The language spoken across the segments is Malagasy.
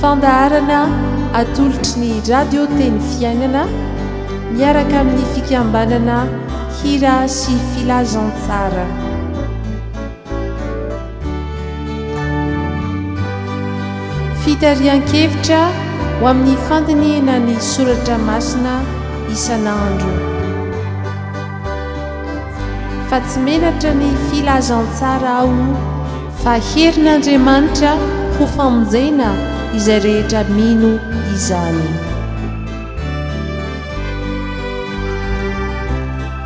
Fandaharana atolotry ny Radio Teny Fiainana miaraka amin'ny fikambanana Hira sy Filazantsara. Fitarihan-kevitra ho amin'ny fandinihana ny soratra masina isan'andro. Fa tsy menatra ny Filazantsara aho. Fa herin'Andriamanitra ho famonjena izay rehetra mino izany.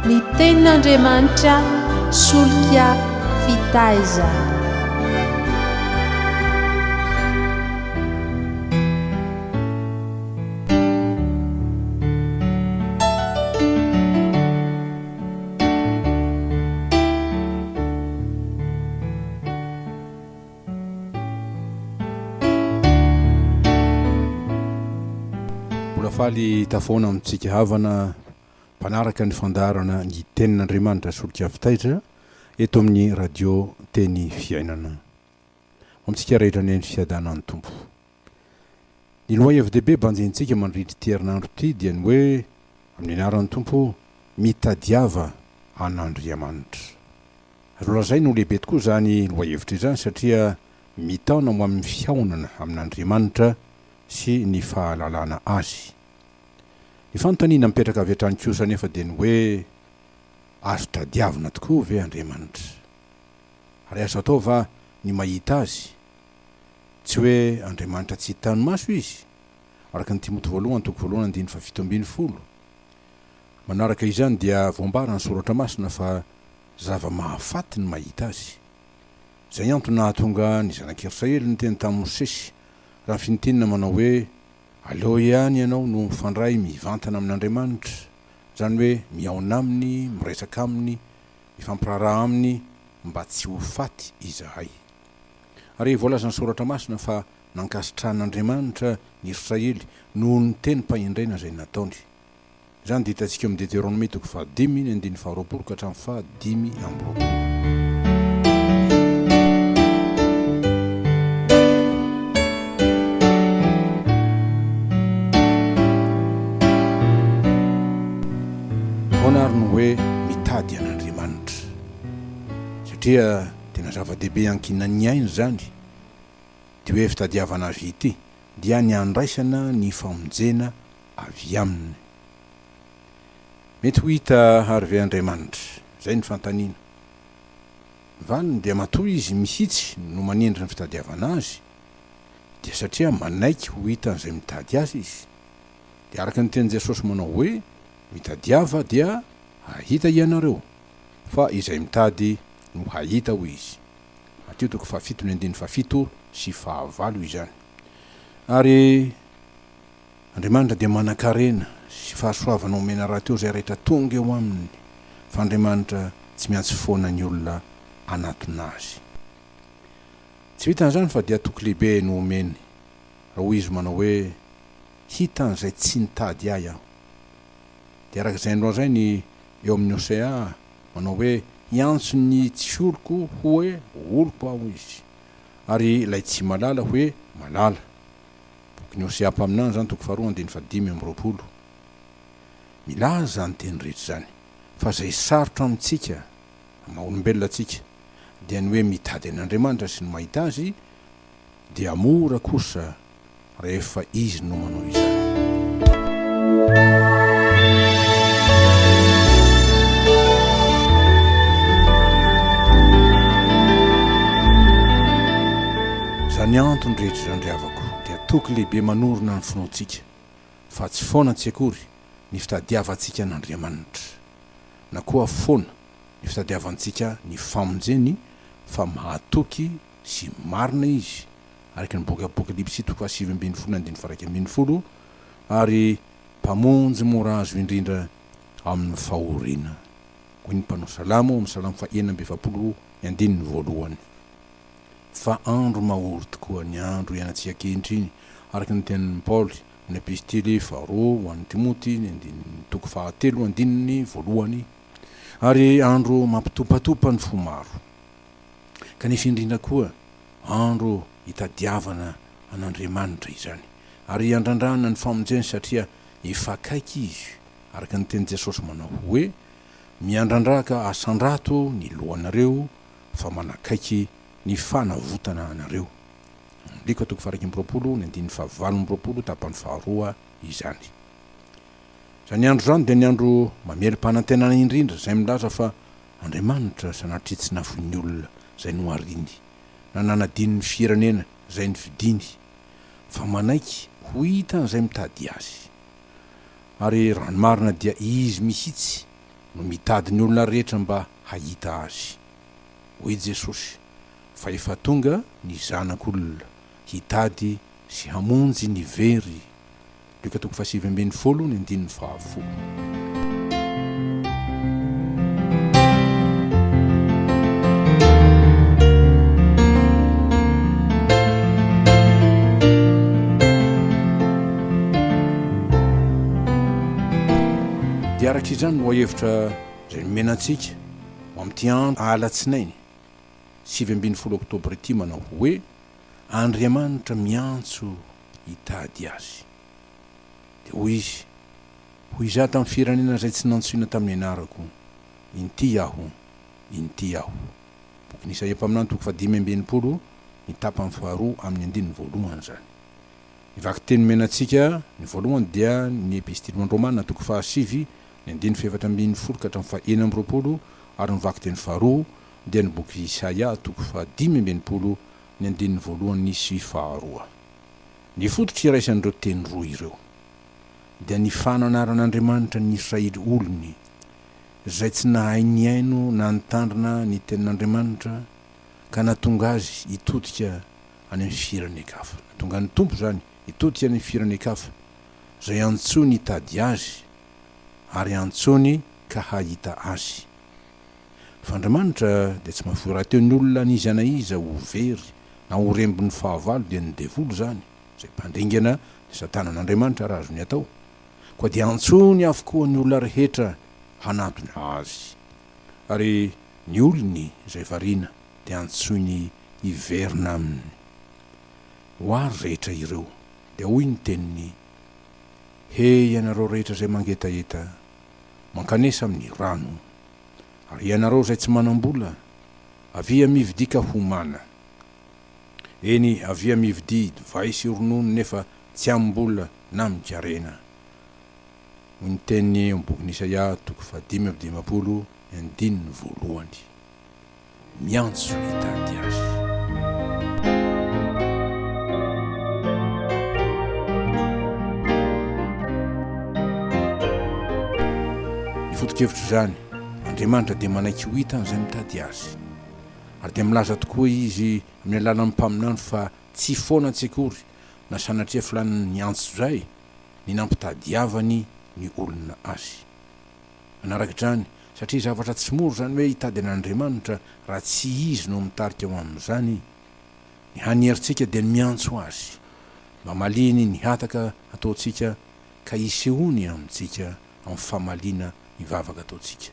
Ny Tenin'Andriamanitra solika fitaizana. Mbola faly tafaona amintsika havana mpanaraka ny fandaharana Ny Tenin'Andriamanitra Solika avy Taitra eto amin'ny Radio Teny Fiainana. Ho amintsika rehetra anie ny fiadanan'ny Tompo. Ny lohahevi-dehibe banjinintsika mandritra ity herinandro ity dia ny hoe, amin'ny anaran'ny Tompo, mitadiava an'Andriamanitra. Azo lazaina ho lehibe tokoa izany lohahevitra izany satria mitaona ho amin'ny fihaonana amin'Andriamanitra sy ny fahalalana Azy. Ny fanontaniana mipetraka avy hatrany kosa anefa dia ny hoe, azo tadiavina tokoa ve Andriamanitra? Ary azo atao va ny mahita Azy? Tsy hoe Andriamanitra tsy hita ny maso Izy, araka ny Timoty voalohany toko voalohany andininy fahafito ambin'ny folo. Manaraka izany dia voambaran'ny Soratra Masina fa zava-mahafaty ny mahita Azy. Izay antony nahatonga ny Zanak'i Israely niteny tamin'i Mosesy raha fintinina manao hoe, Aleo ihany ianao no mifandray mivantana amin'Andriamanitra, izany hoe mihaona Aminy, miresaka Aminy, mifampiraharaha Aminy, mba tsy ho faty izahay. Ary voalazan'ny Soratra Masina fa nankasitrahan'Andriamanitra ny Israely noho ny teny mpahendrena izay nataony. Izany dia hitantsika eo amin'ny Deteronomia toko fahadimy ny andininy faharoapolo ka hatramin'ny fahadimy amby roapolo. Ahoana ary no hoe mitady an'Andriamanitra? Satria. Tena zava-dehibe ankinan'ny aina izany ity hoe fitadiavana Azy ity, dia ny handraisana ny famonjena avy Aminy. Mety ho hita àry ve Andriamanitra? Izay ny fanontaniana. Ny valiny dia matoa Izy mihitsy no manendry ny fitadiavana Azy, dia satria manaiky ho hitan'izay mitady Azy Izy. Dia araka ny tenin'i Jesosy manao hoe, Mitadiava dia hahita hianareo. fa izay mitady no hahita hoy izy, Matio toko fahafito ny andininy fahafito sy fahavalo izany. Ary Andriamanitra dia manankarena sy fahasoavana omena rahateo izay rehetra tonga eo aminy, fa Andriamanitra tsy miantsy foana ny olona hanatona azy. Tsy vitan'izany fa dia toky lehibe no omeny, raha hoy izy manao hoe, Hita an'izay tsy nitady ahy aho. dia araka izay nolazainy eo amin'ny Hosea manao hoe, Hiantso ny tsy oloko hoe oloko Aho izy, ary ilay tsy malala hoe malala. Bokin'ny Hosea mpaminany izany, toko faharoa, andininy fahadimy amby roapolo. Milaza izany teny rehetra izany fa izay sarotra amintsika, amin'ny maha olombelona antsika, dia ny hoe mitady an'Andriamanitra sy ny mahita Azy, dia mora kosa rehefa izy no manao izany. Izany antony rehetra izany ry havako dia toky lehibe manorina ny finoantsika fa tsy foana tsy akory ny fitadiavantsika an'Andriamanitra na koa foana ny fitadiavantsika ny famonjeny fa mahatoky sy marina izy araka ny boky Apokalypsy toko fahasivy ambin'ny folo andininy faharaika ambin'ny folo, ary Mpamonjy mora azo indrindra amin'ny fahoriana, hoy ny mpanao salamo ao amin'ny Salamo fahenina amby efapolo ny andininy voalohany. Fa andro mahory tokoa ny andro ianantsika ankehitriny, araka ny tenin'i Paoly amin'ny Epistily faharoa ho an'i Timoty ny andininy toko fahatelo andininy voalohany, ary andro mampitopatopa ny fo maro. kanefa indrindra koa andro hitadiavana an'Andriamanitra izany ary handrandrahana ny famonjeny satria efa akaiky izy araka ny tenin'i Jesosy manao hoe, Miandrandraka asandrato ny lohanareo fa manakaiky ny fanavotana anareo. Mk toko faharaika amby roapolo ny andininy fahavalo amby roapolo tapany faharoa izany. Izany andro izany dia ny andro mamerim-panantenana indrindra izay milaza fa Andriamanitra sanatria tsy nafoin'ny olona izay nohariny, na nanadino ny fieranena izay nifidiny, fa manaiky ho hitan'izay mitady Azy. Ary raha ny marina dia Izy mihitsy no mitady ny olona rehetra mba hahita Azy. Hoy Jesosy fa efa tonga ny Zanak'olona hitady sy hamonjy ny very. Luka toko fahasivy ambin'ny folo ny andininy fahafolo. Dia araka izany no hahevitra izay nomena antsika ho amin'ity andro alatsinainy sivy ambin'ny folo oktobra ity manao hoe, Andriamanitra miantso hitady azy. Dia hoy izy, Hoy izaho tamin'ny firenena izay tsy nantsoina tamin'ny anarako, Inty aho, inty aho. Bokin'i Isaia mpaminany toko fahadimy amby enimpolo, ny tapany faharoa amin'ny andininy voalohany izany. Ny vakiteny omena antsika, ny voalohany dia ny Epistily ho an'ny Romana toko fahasivy, ny andininy fahefatra ambin'ny folo ka hatramin'ny fahenina amby roapolo, ary ny vakiteny faharoa dia ny boky Isaia toko fahadimy amby enimpolo ny andininy voalohany sy faharoa. Ny fototra iraisan'ireo teny roa ireo dia ny fananaran'Andriamanitra ny Israely olony, izay tsy nahay nihaino na nitandrina ny tenin'Andriamanitra ka nahatonga azy hitodika any amin'ny firenen-kafa. Nahatonga ny Tompo izany hitodika any amin'ny firenen-kafa, izay antsoiny hitady Azy ary antsoiny ka hahita Azy. Fa Andriamanitra dia tsy mahafoy rahateo ny olona an'iza na iza ho very na ho rembin'ny fahavalo dia ny devoly izany izay mpandringana ny satana an'Andriamanitra raha azony atao koa dia antsony avokoa ny olona rehetra hanatona azy ary ny olony izay variana dia antsoiny hiverina aminy ho ary rehetra ireo dia hoy ny teniny he ianareo rehetra izay mangetaheta mankanesa amin'ny rano. Ary ianareo izay tsy manam-bola, avia mividia ka homana. Eny, avia mividia divay sy ronono nefa tsy amim-bola na amin-karena, hoy ny teniny eo amin'ny bokin'i Isaia, toko fahadimy amby dimampolo, andininy voalohany. miantso hitady ahy. Ny foto-kevitr'izany, Andriamanitra dia manaiky ho hitan'izay mitady Azy. Ary dia milaza tokoa Izy amin'ny alalan'ny mpaminany fa tsy foana tsy akory na sanatria filàny ny antso izay ny nampitadiavany ny olona Azy. Manarak'izany, satria zavatra tsy mora izany hoe hitady an'Andriamanitra raha tsy Izy no mitarika ho amin'izany, ny hany herintsika dia ny miantso Azy mba hamaliany ny hataka ataontsika ka hisehoany amintsika amin'ny famaliana ny vavaka ataontsika.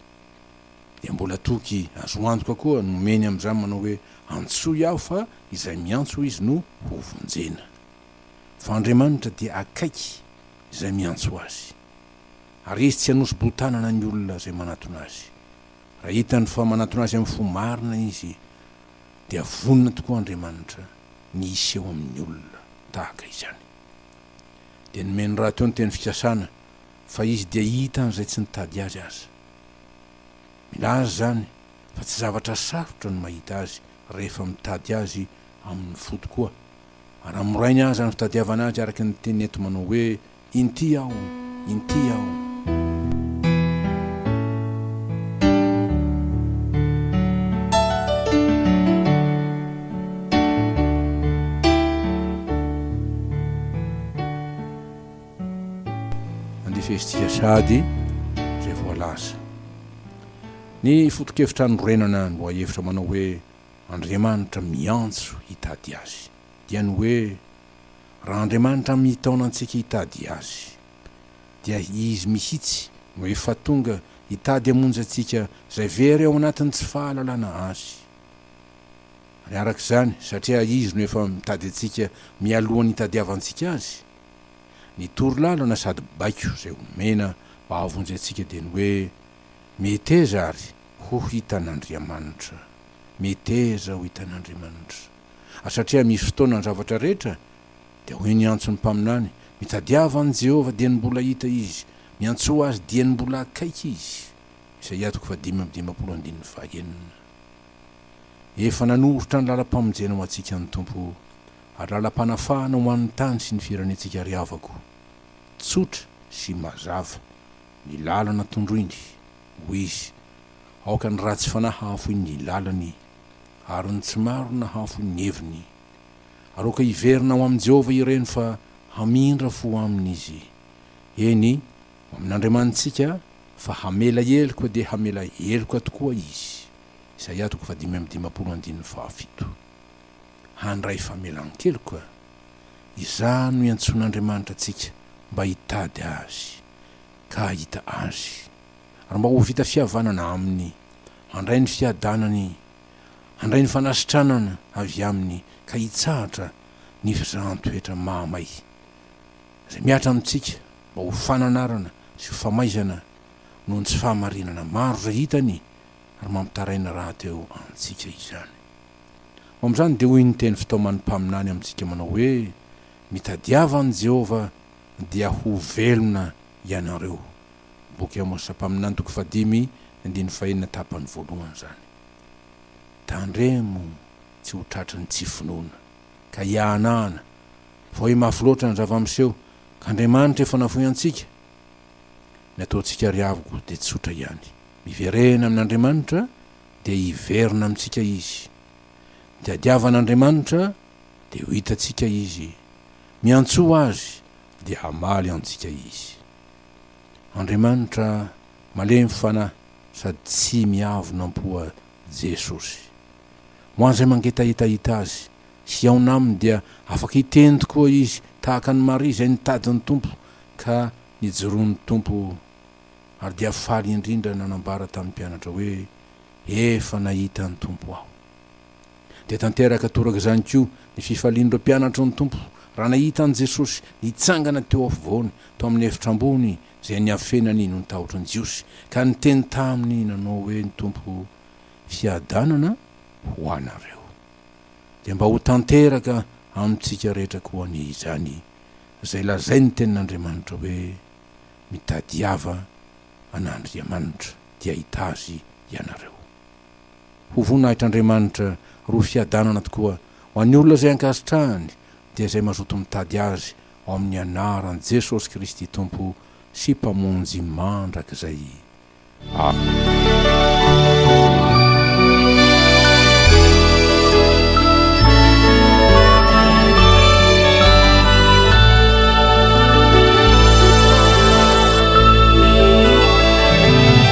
Dia mbola toky azo antoka koa no omeny amin'izany manao hoe, Antsoy aho fa izay miantso Izy no hovonjena. Fa Andriamanitra dia akaiky izay miantso Azy. Ary izy tsy hanosi-bohon-tanana ny olona izay manatona azy. Raha hitany fa manatona azy amin'ny fo marina izy, dia vonona tokoa Andriamanitra ny hiseho amin'ny olona tahaka izany. Dia nomeny rahateo ny teny fikasana fa izy dia hita an'izay tsy nitady azy aza. Milaza izany fa tsy zavatra sarotra ny mahita azy rehefa mitady azy amin'ny fo tokoa, ary amorainy aza ny fitadiavana azy araka ny teny eto manao hoe, Inty aho, inty aho. Andefaizitsika sahady izay voalaza. Ny foto-kevitra anorenana ny lohahevitra manao hoe Andriamanitra miantso hitady Azy dia ny hoe, Raha Andriamanitra mitaona antsika hitady Azy, dia Izy mihitsy no efa tonga hitady hamonjy antsika izay very ao anatin'ny tsy fahalalana Azy. Ary araka izany, satria Izy no efa mitady antsika mialohan'ny hitadiavantsika Azy, ny toro lalana sady baiko izay omena mba hahavonjy antsika dia ny hoe, Meteza àry ho hitan'Andriamanitra! Meteza ho hitan'Andriamanitra! ary satria misy fotoana ny zavatra rehetra, dia hoy ny antson'ny mpaminany, Mitadiava an'i Jehovah dieny mbola hita izy, miantsoa azy dieny mbola akaiky izy. Isaia toko fahadimy amby dimampolo andininy fahaenina. Efa nanoritra ny làlam-pamonjena ho antsika ny Tompo, ary làlam-panafahana ho an'ny tany sy ny firenentsika ry havako. Tsotra sy mazava ny làlana tondroiny, hoy izy, aoka ny ratsy fanahy hahafoy ny làlany. ary ny tsy maro nahafo ny heviny. Aroaka hiverina ho amin'i Jehovah ireny fa hamindra fo aminy izy. Eny, ho amin'Andriamanitsika, fa hamela heloka dia hamela heloka tokoa izy. Isaia toko fahadimy amby dimampolo andininy fahafito. Handray famelan-keloka. Izany no iantsoan'Andriamanitra antsika mba hitady azy, ka hahita azy. ary mba ho vita fihavanana Aminy. Handray ny fiadanany, handray ny fanasitranana avy Aminy ka hitsahatra ny fizahan-toetra mahamay, izay mihatra amintsika mba ho fananarana sy ho famaizana noho ny tsy fahamarinana maro izay hitany ary mampitaraina rahateo antsika izany. Ho amin'izany dia hoy ny teny fitaoman'ny mpaminany amintsika manao hoe, Mitadiava an'i Jehovah dia ho velona ianareo. Boky Amosa mpaminany toko fahadimy andininy fahenina tapany voalohany izany. Tandremo tsy ho tratry ny tsy finoana, ka hiahanahana, fa hoe mafy loatra ny zava-miseho, ka Andriamanitra efa nafoy antsika. Ny ataontsika ry havoko dia tsotra ihany, miverena amin'Andriamanitra dia hiverina amintsika Izy. Mitadiavana Andriamanitra dia ho hitantsika Izy, miantsoa Azy dia hamaly antsika Izy. Andriamanitra malemy fanahy sady tsy miavona am-poa Jesosy. Ho an'izay mangetaheta hahita Azy, sy hihaona Aminy dia afaka hiteny tokoa izy tahaka an'i Maria izay nitady ny Tompo ka nijoroan'ny Tompo ary dia faly indrindra nanambara tamin'ny mpianatra hoe, Efa nahita ny Tompo aho. Dia tanteraka toraka izany koa ny fifalian'ireo mpianatry ny Tompo raha nahita an'i Jesosy nitsangana teo afovoany tao amin'ny efitra ambony izay niafenany nony tahotry ny Jiosy, ka niteny taminy nanao hoe ny Tompo, Fiadanana ho anareo. Dia mba ho tanteraka amintsika rehetra koa anie izany izay lazain'ny Tenin'Andriamanitra hoe, Mitadiava an'Andriamanitra, dia hahita Azy ianareo. Ho voninahitr'Andriamanitra roa fiadanana tokoa ho an'ny olona izay ankasitrahany dia izay mazoto mitady Azy ao amin'ny anaran'i Jesosy Kristy Tompo sy Mpamonjy mandrakizay. Amen.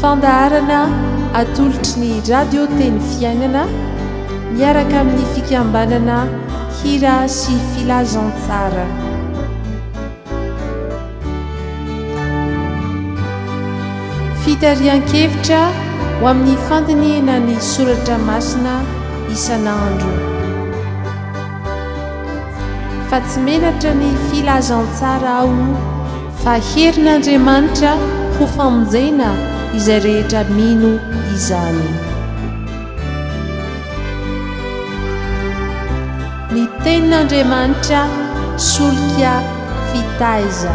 Fandaharana atolotry ny Radio Teny Fiainana miaraka amin'ny fikambanana Hira sy Filazantsara. Fitarihan-kevitra ho amin'ny fandinihana ny soratra masina isan'andro. Fa tsy menatra ny filazantsara aho Fa herin'Andriamanitra ho famonjena izay rehetra mino izany. Ny Tenin'Andriamanitra solika fitaiza.